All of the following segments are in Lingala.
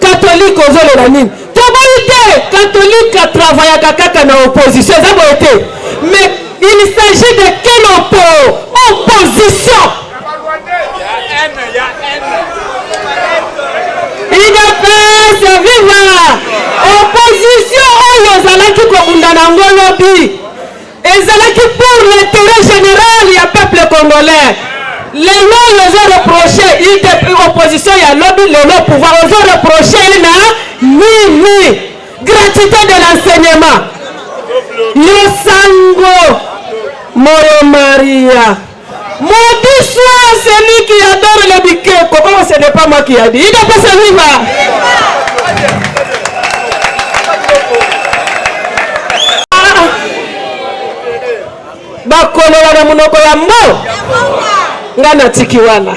Catholique ozolela nini? Toboyi te, catholique a travaillaka kaka na opposition, eza boye te. Mais il s'agit de quelle oppo opposition? Udps viva! Opposition oyo ozalaki kobunda na yango lobi Ezalaki pour l'intérêt general ya peuple congolais. Lelo ozo reproche UDP opposition ya lobi lelo pouvoir ozo reproche ye na nini? Gratuité de l'enseignement. Yo sango moyo Maria. Maudit soit celui qui adore le bikeko. Comment ce n'est pas moi qui a dit. Il doit pas se viva. bakolola na monoko ya mbo ngai natiki wana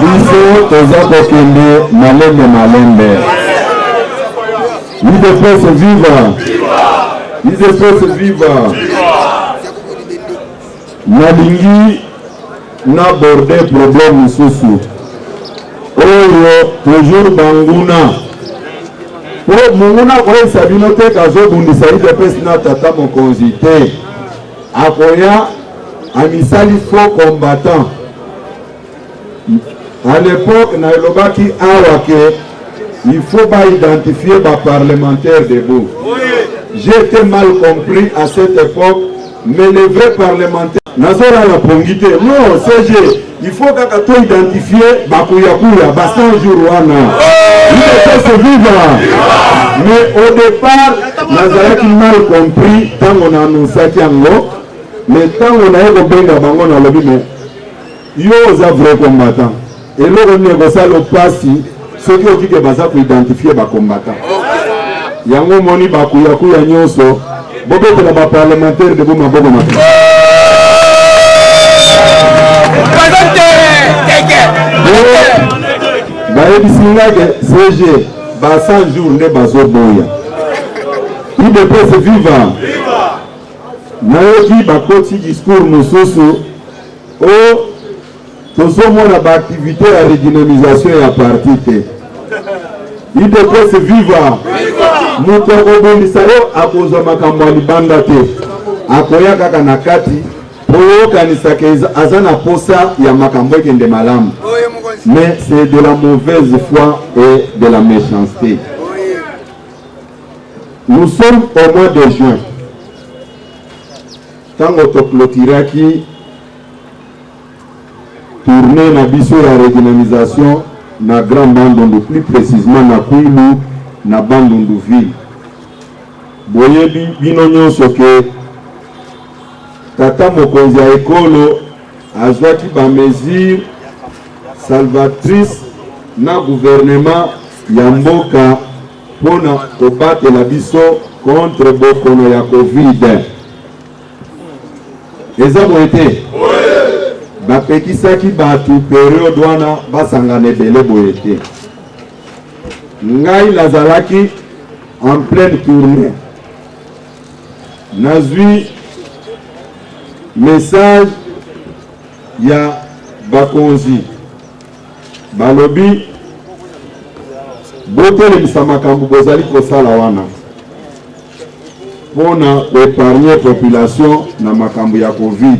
biso toza kokende malembe malembe udps viva udps viva nalingi naborde problème mosusu oyo toujours banguna po monguna akoyebisa bino te kazobundisa udps na tata mokonzi te akoya amisali faux combattant A l'epoque na elobaki awa ke il faut ba identifier ba parlementaires debout. J'ai été mal compris à cette époque, mais les vrais parlementaires nazolala pongi te non CG il faut kaka to identifier bakuyakuya ba 100 jours wana ipese viva mais au départ nazalaki mal compris ntango na annonsaki yango mais ntango naye kobenga bango nalobi mais Yo oza vrai combattant eloko nini ekosala yo pasi soki okike baza ko identifier ba combattant yango omoni bakuyakuya nyonso bobetela ba parlementaire debo maboko na bayebisi ngai ke cg ba 100 jours nde bazoboya udps viva Nayoki bakoti discours mosusu o oh, tozomona baaktivite ya redynamisation ya parti te. Udps viva! Moto akobundisa yo akozwa makambo ya libanda te, akoya kaka na kati mpo yokanisaka aza na posa ya makambo ekende malamu. Mais c'est de la mauvaise foi et de la méchanceté. Nous sommes au mois de juin ntango toclotiraki tournee na biso ya redynamisation na Grand Bandundu, plus précisément na Kwilu na Bandundu ville. Boyebi bino nyonso ke tata mokonzi ya ekolo Azwaki ba mesures salvatrices na gouvernement ya mboka mpo na kobatela biso contre bokono ya Covid. Eza boye te? Bapekisaki bato periode wana basangana ebele boye te. Ngai nazalaki en pleine tournée Nazui message ya bakonzi balobi botelemisa makambo bozali kosala wana mpo na koepargne population na makambo ya covid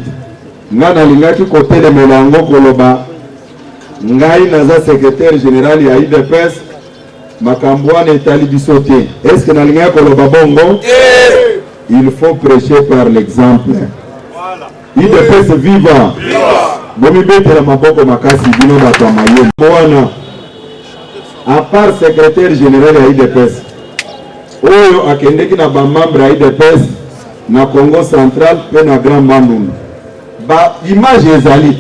ngai nalingaki kotelemela yango koloba ngai naza secretaire general ya udps makambo wana etali biso te eske nalingaki koloba bongo te il faut prêcher par l'exemple idps viva bomibetela maboko makasi bino bato ya mayele wana apart secrétaire général ya idps oyo akendeki na bamembre ya idps na congo central mpe na grand bandundu Ba image ezali.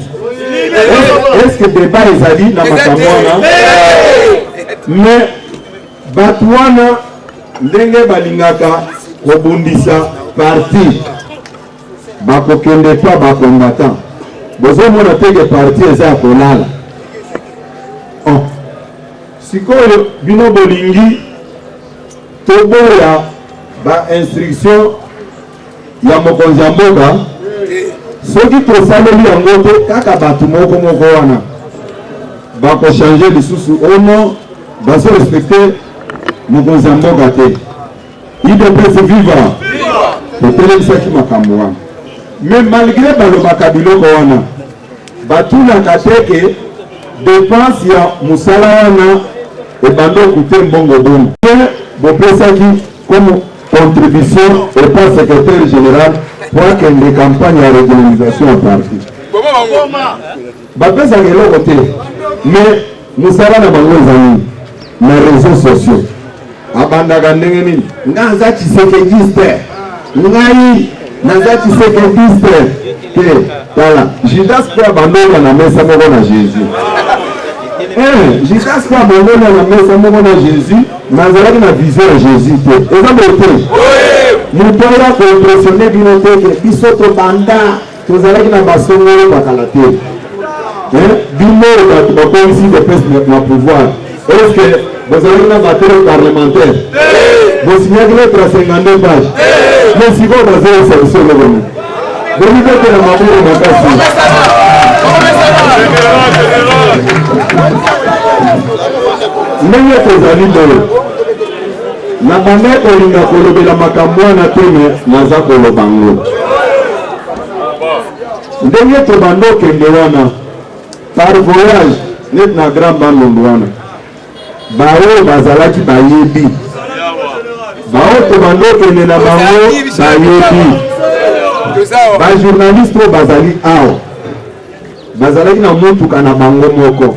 Est-ce que débat ezali na makambo wana? Mais bato wana ndenge balingaka kobundisa parti bakokende pa bakombatan bozomona teke parti eza ya kolala oh. sikoyo bino bolingi toboya bainstruction ya mokonzi ya mboka soki tosaleli yango te kaka bato moko moko wana bakochange lisusu ono bazo respecte mokonzi ya mboka te idps viva totelemisaki makambo wana mais malgré balobaka biloko wana batunaka te ke depense ya mosala wana ebanda okute mbongo boni te bopesaki Comme contribution epa secretaire general po akende campagne ya regularisation ya parti bapesaka eloko te mais mosala na bango eza nini na réseau sociaux abandaka ndenge nini nga aza tshisekekiste ngai naza tshisekekiste te tala judas mpe abandona na mesa moko na jésus eh, judas mpe abandona na mesa moko na jésus me azalaki na vision ya jésus te eza boye te moto oya koimpressione bino te ke biso tobanda tozalaki na basongolo bakala te eh, bino bato bakomisi kopesa na pouvoir Est-ce que bozalaki na materi parlementaire bosinyaki lettre ya 52 page mais sikoyo bazoyesa biso eloko nini bomibetela maboko makasi ndenge tozali boye na banda kolinga kolobela makambo wana te me naza koloba ngo ndenge tobanda okende wana Par voyage, neti na Grand Bandundu wana, baoyo bazalaki bayebi, baoyo tobandi okende na bango bayebi, bajournaliste oyo bazali awa bazalaki na motuka na bango moko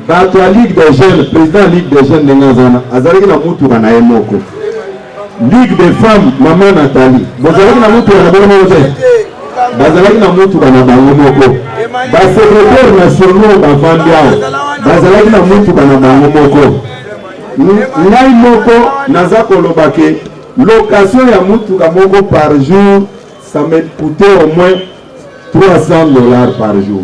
Bato ya Ligue des jeunes, president ya Ligue des jeunes ndenge aza wana, azalaki na mutuka na ye moko. Ligue des femmes, mama Nathalie, bozalaki na mutuka na bino moko te? Bazalaki na mutuka na bango moko. Ba secretaire nationaux bavandi awa, bazalaki na mutuka na bango moko. Ngai moko naza koloba ke location ya mutuka moko par jour ça me coûtait au moins 300 dollars par jour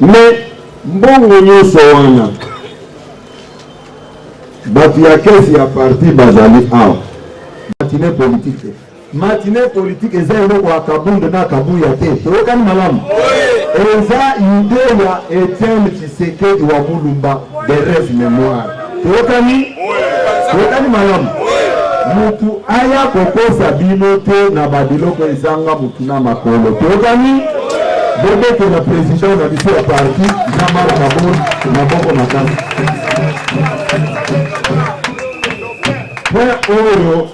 Mais mbongo nyonso wana bato ya kesi ya parti bazali awa matine politike matine politike eza eloko ya kabund na kabuya te toyokani malamu eza ide ya etienne tshisekedi wa mulumba de reve memoire Tokani tokani malamu mutu aya kokosa bino te na babiloko ezanga mutu na makolo tokani boboko na president na biso ya parti jean-marc kabor maboko makasi mpe oyo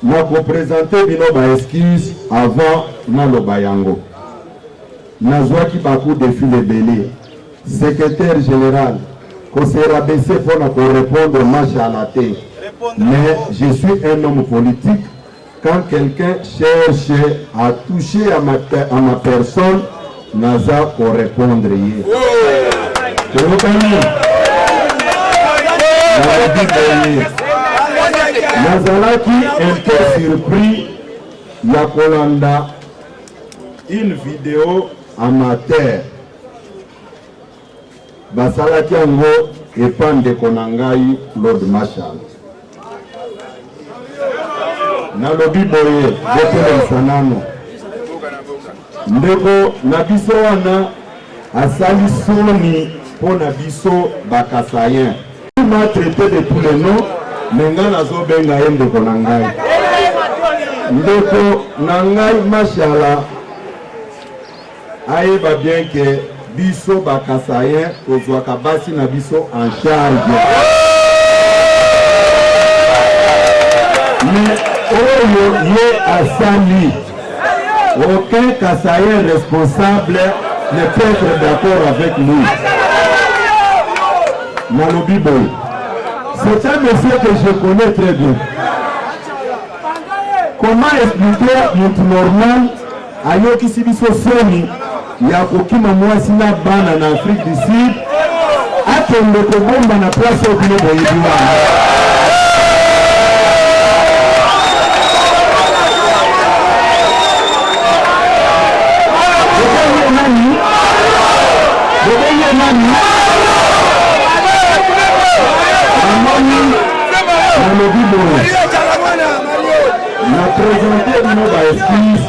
Nako presenter bino ba excuses avant naloba yango. Nazuaki ba coups de fil ebele. Secretaire general ko se rabaisser mpo na ko repondre Mashala te. Mais je suis un homme politique quand quelqu'un cherche à toucher à ma, à ma personne naza ko repondre ye toyokani nalobi boye nazalaki un peu surpris ya kolanda une video amateur Basalaki yango epa ndeko na ngai Claude Marshall. Nalobi boye, botelemisa nano ndeko na biso wana asali soni mpo na biso bakasayen ma traite de tous les noms me ngai nazobenga ye ndeko na ngai ndeko na ngai mashala Ayeba bien que biso ba Kasaïens tozwaka basi na biso en charge. Mais oyo ye asali, aucun Kasaïen responsable ne peut être d'accord avec lui. Nalobi boye, c'est un monsieur que je connais très bien. Comment expliquer notre normal Ayokisi biso soni ya kokima mwasi na bana na Afrique du Sud akende kobomba na place oyo bino boyebi wana. Namoni nalobi boye Na presente bino ba excuse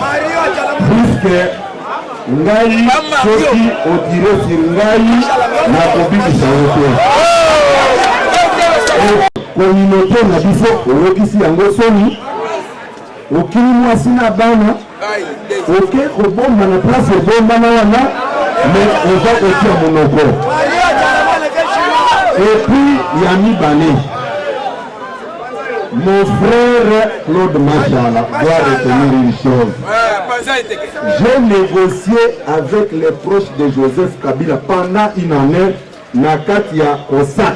puisque ngai soki otire si ngai nakobikisa yo te. Communauté na biso oyokisi yango soni, okili mwasi na bana oke kobomba na place ebombana wana me oza kotia monoko epuis ya mibale mon frère claude mashala doit retenir une chose j'ai négocié avec les proches de joseph kabila pendant une année na kati ya osak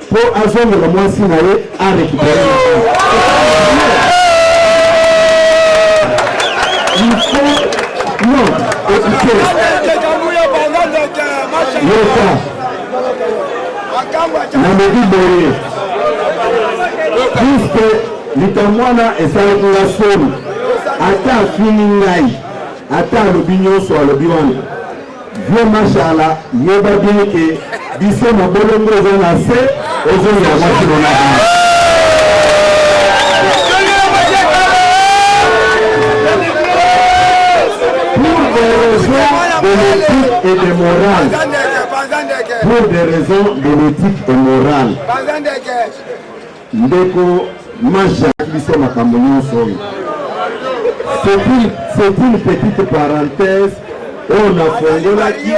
Po azongela mwasi na ye a recuperer Il faut non écoutez yoka nalobi boye puisque likambo wana esalaki nga soni ata afini ngai ata alobi nyonso alobi wana Vieux Mashala yeba bien que biso mabolongo eza na se ozongela mwasi nona et de morale. Pour des raisons de l'éthique et morale. Ndeko Mash alaki biso makambo nyonso oyo. C'est une petite parenthèse oyo nafongolaki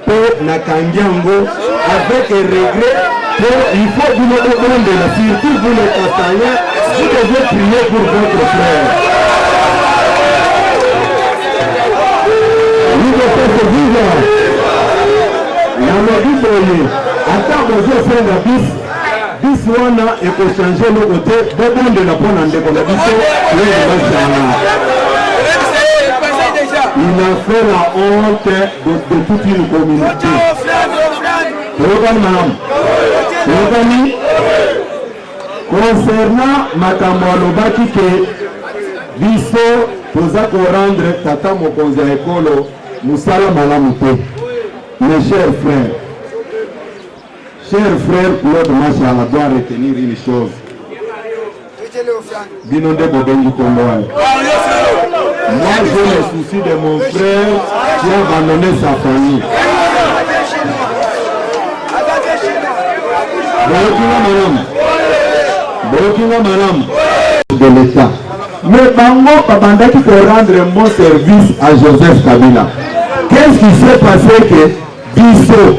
mpo nakangi yango avec regret mpo il faut bino bobondela surtout vous les Kasaïens vous devez prier pour votre frère. Udepese viva na mobimboye ata bozosenga biso bisi wana ekochange eloko te bobondela mpo na ndeko na biso weebasana il a fait la honte de, de toute une communauté oyokani malamu oyokani concernant makambo alobaki ke biso toza korendre tata mokonzi ya ekolo mosala malamu te mes chers frères Cher frère Claude Mashala doit retenir une chose bino nde bobengi kombo wana moi je le souci de mon frère qui a abandonné sa famille boyokinga malamu boyokinga malamu de l'état mais bango babandaki ko rendre un bon service à joseph kabila qu'est ce qui s'est passé que biso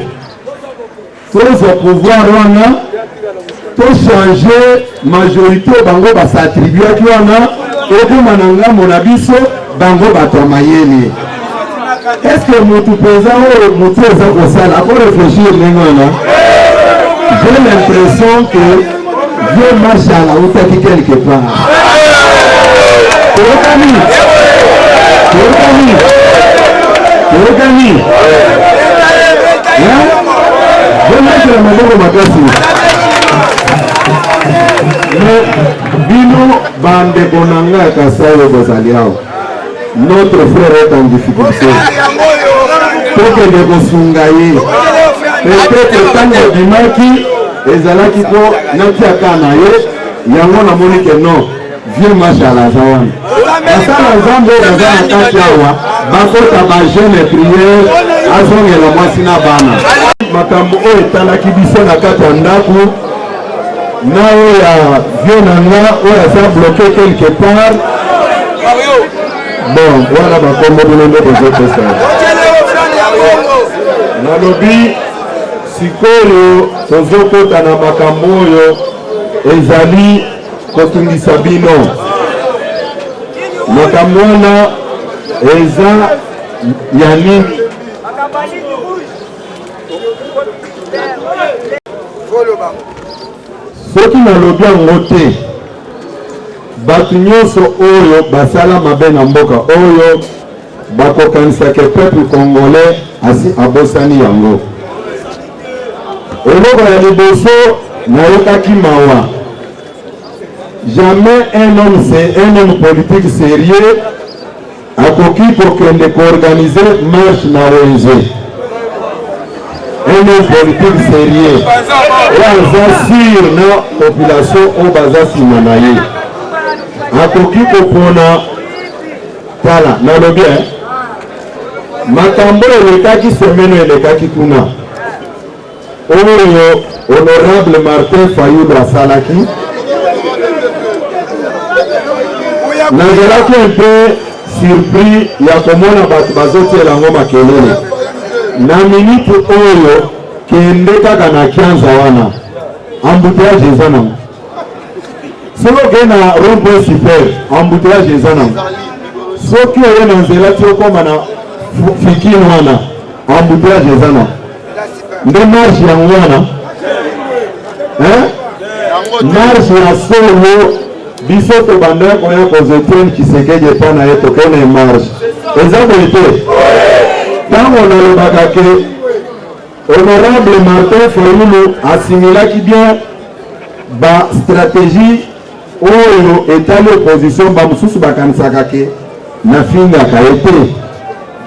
tozwa pouvoir wana tochange majorité bango basatribuaki wana ekoma na ngambo na biso bango bato ya mayele eske motu mpenza oyo motu eza kosala akoreflechir ndenge wana j'ai l'impression que Vieux Mashala autaki quelque part. Toyokani, toyokani, toyokani. Vieux Mashala maboko makasi. Bino bandeko na ngai ya Kasai bozali awa notre frère est en difficulté tokende kosunga ye peut-être ntango abimaki ezalaki mpo natiaka na ye yango namoni ke non vieux marshal aza wana basala nzambe oyo baza na kati awa bakota bajeune priere azongela mwasi na bana makambo oyo etalaki biso na kati ya ndako na oyo ya vieux na nga oyo aza bloke quelque part bon wana bakombo bino nde bozopesa nalobi sikoyo tozokota na makambo oyo ezali kotungisa bino makambo wana eza ya nini soki nalobi yango te bato nyonso oyo basala mabe na mboka oyo bakokanisaka peuple congolais asi abosani yango eloko ya liboso nayokaki mawa jamais un homme, un homme politique sérieux akoki kokende koorganize marche na wenze un homme politique sérieux oyo aza sur na population oyo baza nsima na ye akoki kopona tala nalobi eh? makambo elekaki semeno elekaki kuna oyo honorable Martin Fayulu asalaki nazalaki un peu surpris ya komona bato bazotiela yango makelele na minute oyo kende kaka na kianza wana embouteillage eza nango soki okei na rond-point super embouteillage eza nango soki oye na nzela ti okoma na fikine wana embouteillage eza nango nde marche yango wana marche ya solo biso tobanda koya kozetien kisekedi epa na ye tokende marche eza boye te ntango nalobaka ke honorable martin fayulu asimilaki bien bastratégie Oyo etali opposition bamosusu bakanisaka ke nafingaka ye te.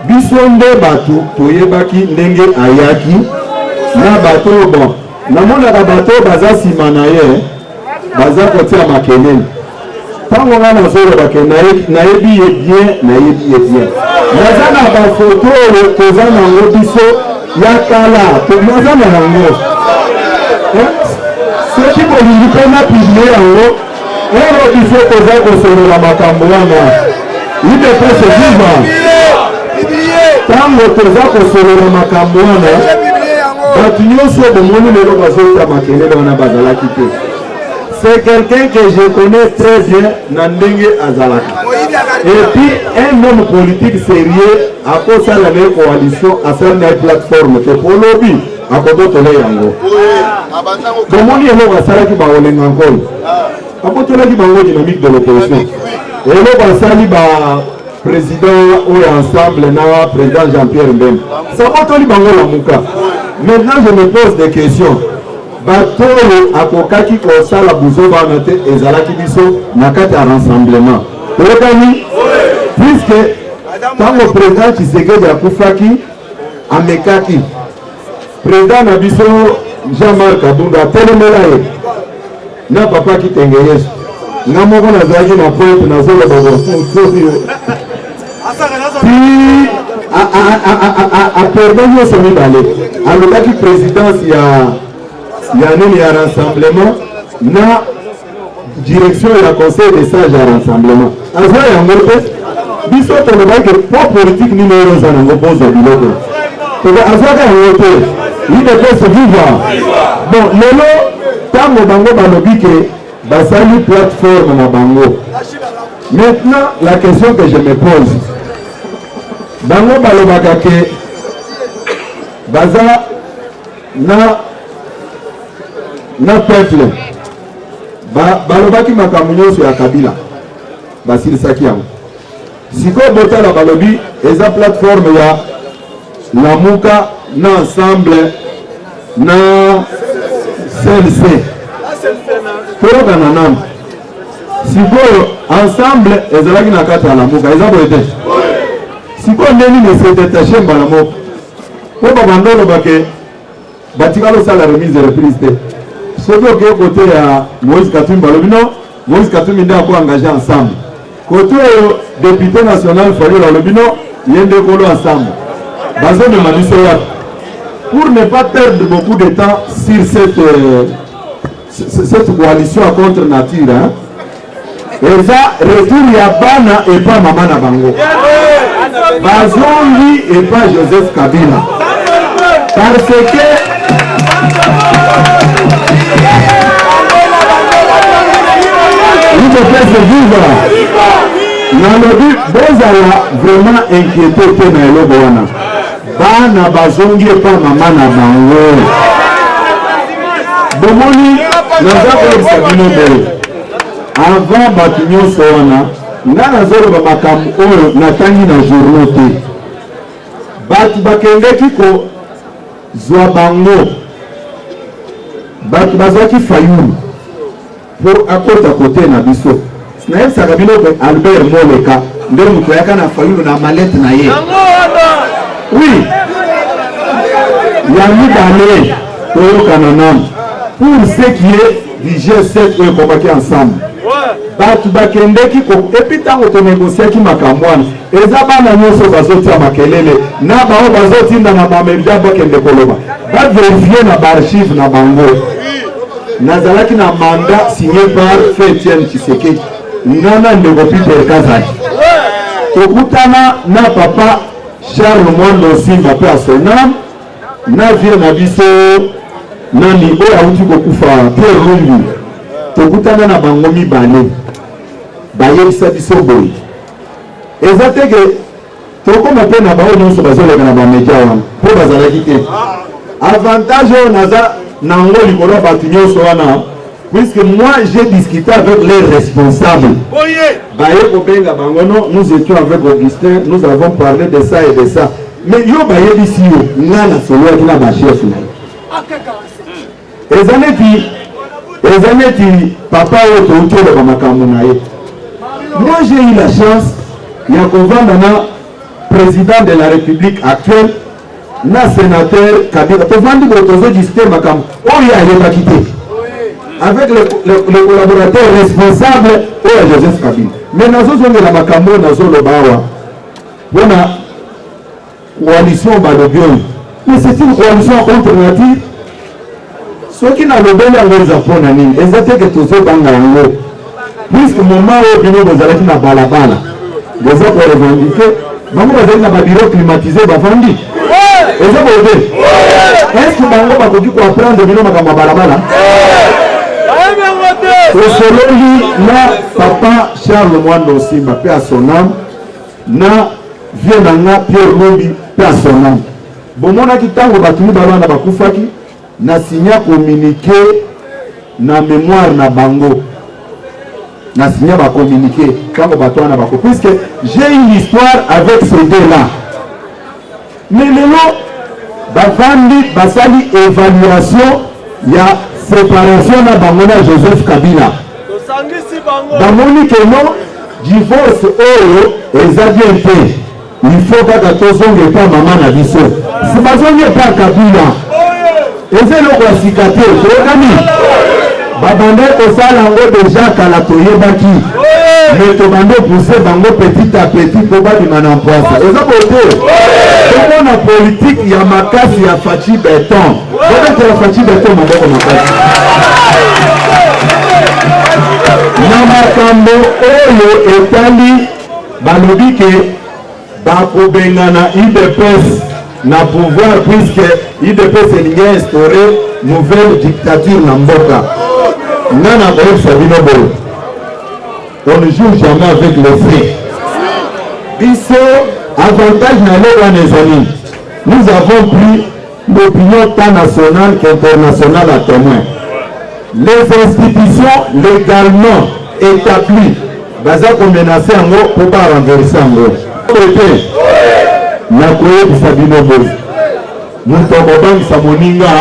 Biso nde bato toyebaki ndenge ayaki na bato oyo bon namonaka bato oyo baza nsima na ye baza kotia makelele ntango ngai nazoloba ke nayebi ye bien nayebi ye bien naza na bafoto oyo toza nango biso ya kala mpo aza na yango eh, soki bolingi mpe na piblie yango ero eh, biso toza kosolola makambo wana idepese viva ntango toza kosolola makambo wana bato nyonso bomoni lelo bazota makelele wana bazalaki te c'est quelqu'un que je connais très bien na ndenge azalaka et puis un homme politique sérieux akosala na ye coalition asali na ye plateforme te po lobi akobotole yango bomoni eloko asalaki baolenga nkolo abotolaki bango dynamique de l'opposition eloko asali ba président oyo ensemble na président jean-pierre mbembe sabotoli bango lamuka maintenant je me pose des questions Bato oyo akokaki kosala buzoba wana te ezalaki biso na kati ya rassemblement. Oyokani? Puiske ntango president Tshisekedi akufaki, amekaki president na biso Jean-Marc Kabunda atelemela ye na papa Kitenge Yesu. Nga moko nazalaki na pointe nazoloba bosomi aperde nyonso mibale alobaki présidence ya ya nini ya rassemblement na direction ya conseil de sage ya rassemblement aza yango te biso tolobaki po politique nini oyo oza nango bozwa biloko azwaka yango te idepese viva bon lelo ntango bango balobi ke Basali plateforme na bango. Maintenant, la question que je me pose, bango balobaka ke baza na na peuple balobaki ba makambo nyonso ya kabila basilisaki yango Sikoyo botala balobi eza plateforme ya Lamuka na ensemble na CLC toyokana nano sikoyo ensemble ezalaki na kati ya Lamuka eza boye te sikoyo nde nini se detache mbala moko mpo babanda olobake batikala osala remise reprise te soki okei kote ya moïse katumbi balobi no moïse katumbi nde ako engage ensemble kote oyo depute national fayula alobi no ye nde kolo ensemble bazomema biso wapi pour ne pas perdre beaucoup de temps sur cette euh, Cette coalition à contre nature hein? eza retour ya bana epa mama na bango bazongi epa Joseph Kabila parce que ipopese viva nalobi bozala vraiment inquiete te na eloko wana Bana bazongi epa mama na bango. Bomoni, naza koyebisa bino boye, avant bato nyonso wana, nga nazoloba makambo oyo natangi na journaux te. Bato bakendeki kozwa bango, bato bazwaki Fayulu po akota kote na biso nayebisaka bino ke albert moleka nde moto ayaka na fayulu na malete na ye wi ya mibale toyokana nano pour ce qui est du g7 oyo ekomaki ensemble bato bakendeki epi ntango tonegosiaki makambo wana Eza bana nyoso bazotia makelele na bao bazotinda na ba media bakende koloba ba verifie na ba archive na bango. Nazalaki na mandat signé par Feu Etienne Tshisekedi nga na ndeko Peter Kazadi tokutana na papa Charles Mwando Nsimba mpe asonam na vie na biso nani oyo awuti kokufa Pierre Lumbi tokutana na bango mibale bayebisa biso boye Eza te ke tokoma mpe na baoyo nyonso bazoleka na bamedia wana mpo bazalaki te. Avantage oyo naza nango likolo ya bato nyonso wana puisque moi j'ai discuté avec les responsables baye kobenga bango no nous étions avec Augustin nous avons parlé de ça et de ça mais yo bayebisi yo ngai nasololaki na bachef na ye eza neti eza neti papa oyo touti oloba makambo na ye moi j'ai eu la chance ya kovanda na président de la république actuelle na sénateur kabila tovandi boye tozodiscute makambo oyo ayebaki te avec le, le, le collaborateur responsable oyo ya joseph kabila mais nazozongela makambo oyo nazoloba awa mpona Coalition balobi oyo mais c'est une coalition contre nature. Soki nalobeli yango eza mpo na nini? Eza te ke tozobanga yango puisque moment oyo bino bozalaki na balabala boza ko revendiquer bango bazali na babiro climatise bavandi eza boye te est-ce que bango bakoki koapprendre bino makambo ya balabala tosololi na papa charles mwando osimba mpe asoname Na vieux na nga Pierre Lumbi paix à son ame. Bomonaki tango batu mibale wana bakufaki na signa communique na memoire na bango na signa ba communique tango batu wana bako puisque j'ai une histoire avec ces deux là Mais lelo bavandi basali evaluation ya separation na bango na Joseph Kabila, bamoni que non divorce oyo eza bien te, il faut kaka tozonga epa mama na biso, si bazongi epa Kabila Eza eloko ya sika te, toyokani? Babande kosala yango deja kala, toyebaki me tobande pousse bango petit à petit mpo babima na mpwasa. Eza bote tomona politike ya makasi ya Fatshi Beton, babetela Fatshi Beton maboko makasi na makambo oyo etali balobi ke Bakobengana udps na pouvoir puisque udps elingi instaure nouvelle dictature na mboka. Nga na koyebisa bino boye, on ne joue jamais avec le feu. Biso avantage na eloko wana ezali, nous avons pris L'opinion tant nationale qu'internationale à témoin. Les institutions légalement établies baza ko menacer yango mpo ba renverser yango. Ete nakoyebisa bino boye, moto akobangisa moninga,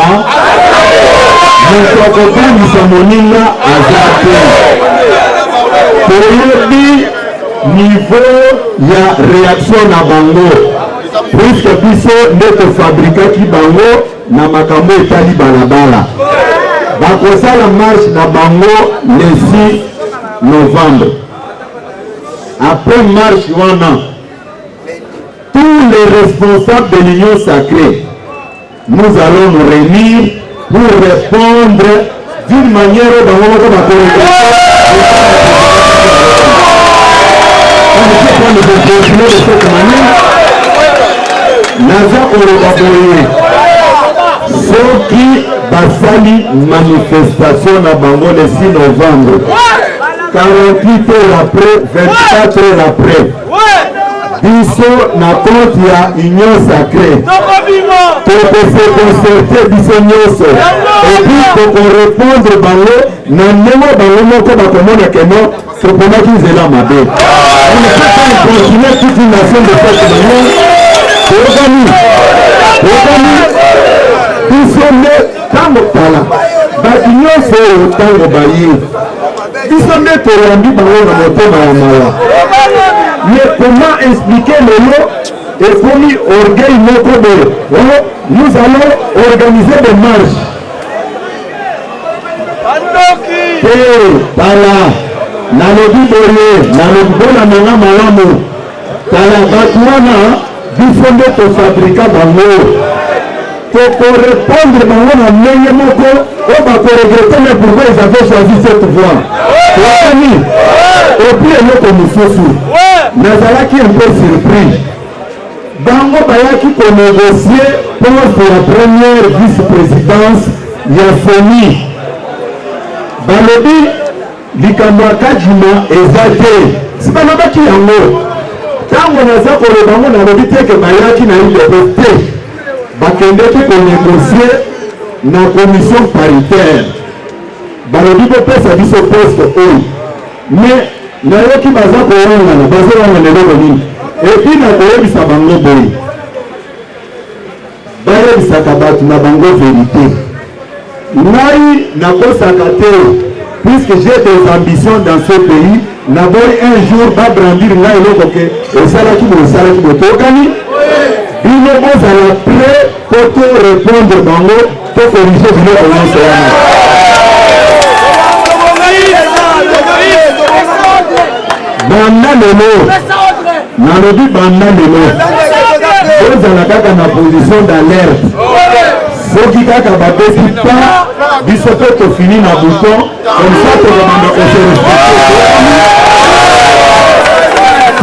moto akobangisa moninga aza te. Toyebi niveau ya reaction na bango. puiske biso nde tofabrikaki bango na makambo etali balabala bakosala marche na bango le 6 novembre après marche wana tous les responsables de l'union sacrée Nous allons nous reunir pour repondre d'une manière oyo bango moko bakorekonamani naza koloba boye soki basali manifestation na bango le 6 novembre 48 heures après 24 heures après biso na compte ya union sacré tokose concerte biso nyonso epuis tokorepondre bango na ndenge bango moko bakomona keno toponaki nzela mabe continue toute une nation de peuple na yo toyokani toyokani biso nde ntango tala bato nyonso oyo ntango baye biso nde toyambi bango na motema ya mawa ye koma explike lelo ekomi orgueil moko boye oh, nous allons organiser des marches te tala nalobi boye nalobi bona nanga malamu Tala batu wana biso nde tofabrika bango tokorepondre bango na ndenge moko oyo bakoregrete me pourkoi ils avaient choisi cette voie toyani epuis eloko mosusu nazalaki un peu surpris bango bayaki konegocie poste ya première vice-présidence ya soni balobi Likambo ya Kadima eza te, sibalobaki yango ntango naza koloba ngo, nalobi te ke bayaki na udps te, bakendeki konegosie na commission paritaire, balobi bopesa biso poste oyo, mais nayoki baza kowangana, bazowangana eloko nini? Epuis nakoyebisa bango boye Bayebisaka batu na bango verite. Ngai nakosaka te puisque j'ai des ambitions dans ce pays, naboyi un jour ba brandir ngai eloko ke osalaki boye osalaki boye tokani bino bozala prêt po to répondre bango To corriger biloko nyonso wana. Banda lelo, nalobi banda lelo, tozala kaka na position d'alerte. Soki kaka babeti pas, biso mpe tofini na bouton, comme ça tokobanda kose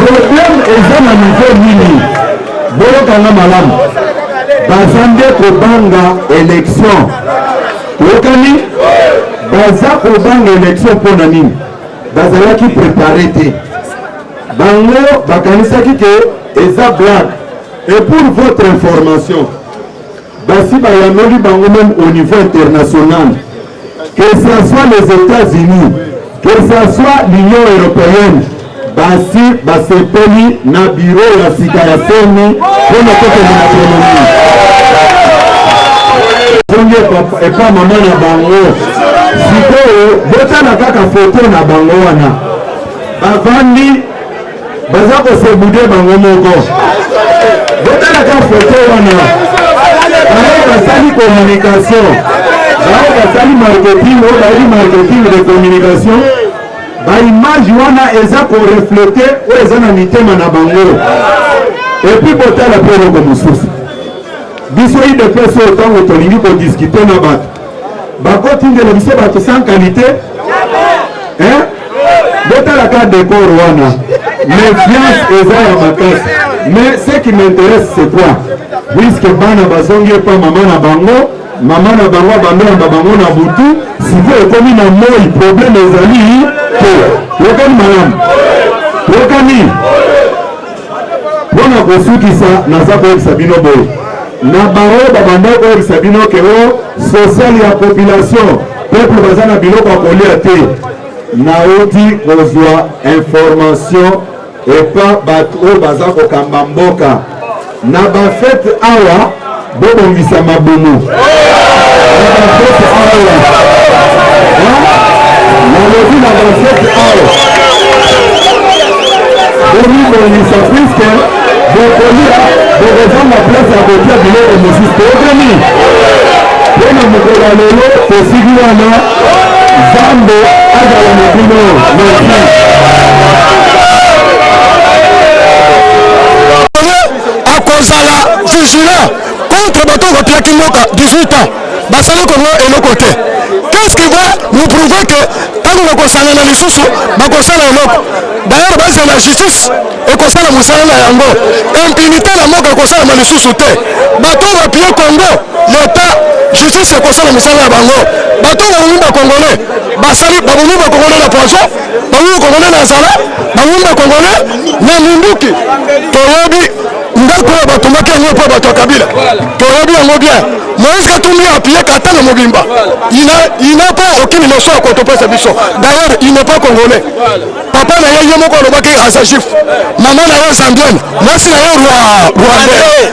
Problème eza na niveau nini? boyokanga malamu baza nde kobanga election oyokani baza kobanga election mpo na nini bazalaki prepare te bango bakanisaki ke eza blague et pour votre information Basi bayanoli bango meme au niveau international que ça soit les Etats-Unis que ça soit l'Union européenne basi basepeli na biro ya sika ya seni mpo na kokende na ekonomi zongi epa mama na bango sikoyo botala kaka foto na bango wana bavandi baza kosebude bango moko botalaka foto wana bango basali communication bango basali marketing oyo bayebi marketing de communication baimage wana eza koreflete oyo eza na mitema na bango epuis botala mpe eloko mosusu biso idps oyo ntango tolingi kodiskute na bato bakotindela biso bato sans qualité hein? botalaka décor wana méfiance eza ya makasi mais ce qui m'intéresse c'est quoi puisque bana bazongi epa mama na bango mama na bango abandonamba bango na butu sikoyo ekomi na moi problème ezali te yokani malamu yokani mpo na kosukisa naza koyebisa bino boye na bango babanda koyebisa bino ke o oh, sosiale ya population peple baza na biloko ya kolia te nauti kozwa information epa bato oyo baza kokamba mboka na bafete awa bobongisa mabumu nalobi na basete awa bomibongisa puiske bokolia bokozanga place ya kotia biloko mosusu toyokani mpo na mokolo ya lelo tosiki wana nzambe azala na bino merci akozala vigilant contre bato oyo bapiaki mboka 18 ans basali kongo eloko te qu'est-ce qui va nous prouver que ntango bakosalana lisusu bakosala eloko d'ailleurs base na justice ekosala mosala na yango impunité na mboka ekosalama lisusu te bato oyo bapie congo leta justice ekosala mosala na bango bato oyo babomi bakongole basali babomi bakongole na poison bango kongole na zala bango nde kongole na minduki toyebi ndako oyo batombaki yango mpo bato ya kabila toyebi yango bien moïse katumbi appuye katanga mobimba il n'a pas aucune leçon ya kotopesa biso d'ailleurs il n'est pas congolais papa na ye ye moko alobaki aza juif mama na ye zambienne mwasi na ye rwandais